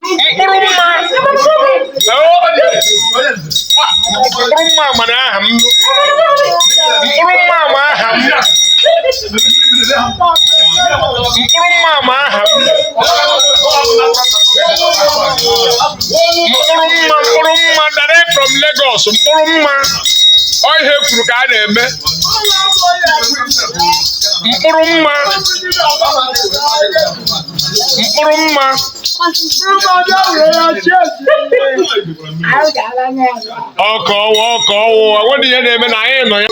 mkpụrụ mma mkpụrụ mma mana aha m mkpụrụ mma ma aha m mkpụrụ mma ma aha m mkpụrụ mma mkpụrụ mma direct from Lagos mkpụrụ mma ọ ihe kwuru ka a na-eme mkpụrụ mma mkpụrụ mma ọka ọwa ọka ọwụwa nwere ihe na-eme na anyị nọ ya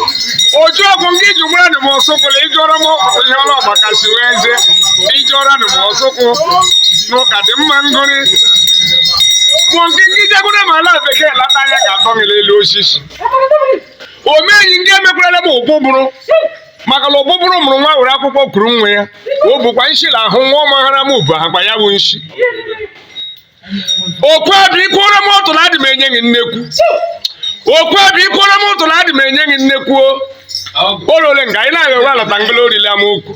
oju ọgwụ nke iji gwara na m ọsụkwụla ịjụọrọ m ihe ọrụ ọgbaka si wee eze ịjụọrọ na m ọsụkwụ n'ụka dị mma ngụrị mụ nke ndị jegwara m ala bekee lata anya ga-atọ m n'elu osisi omenyi ndị emekwala m ụbụ bụrụ maka na ọbụbụrụ mụrụ nwa were akwụkwọ kuru nwa ya o bụkwa nshi na ahụ nwa ọmaghara m bụ akpa ya bụ nshi okwu abụ ikwuoro m ụtụ na adị m enye gị nnekwu okwu abụ ikwuoro m ụtụ na adị m enye gị nnekwu olole nga anyị na-agha ụra lọta ngala orili ama ukwu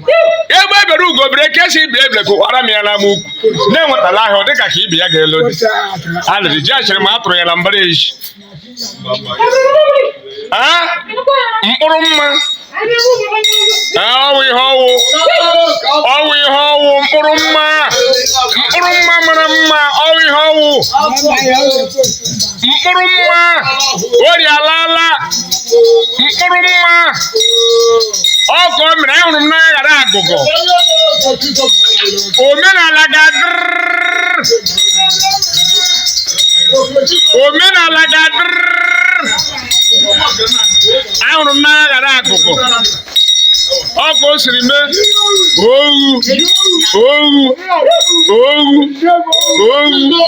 egbe bere ugo bere nke sị ibe ebela nku kwara m ya na ama ukwu na-enwetala ahịa ọ dịka ka ibi ya ga-elo dị alịrị ji achịrị ma a tụrụ ya na mbara ezi mkpụrụ mma ọwụ ihe ọwụ ọwụ ihe ọwụ mkpụrụ mma mkpụrụ mma mara mma ọwụ ihe ọwụ mkpụrụ mma ori alaala mkpụrụ mma ọ ka o mere ahụrụ m n'anya ghara agụgọ omenala ga-adịrị omenala ga-adịrị ahụrụ m n'anya ghara agụgọ ọ ka o siri mee owu owu owu owu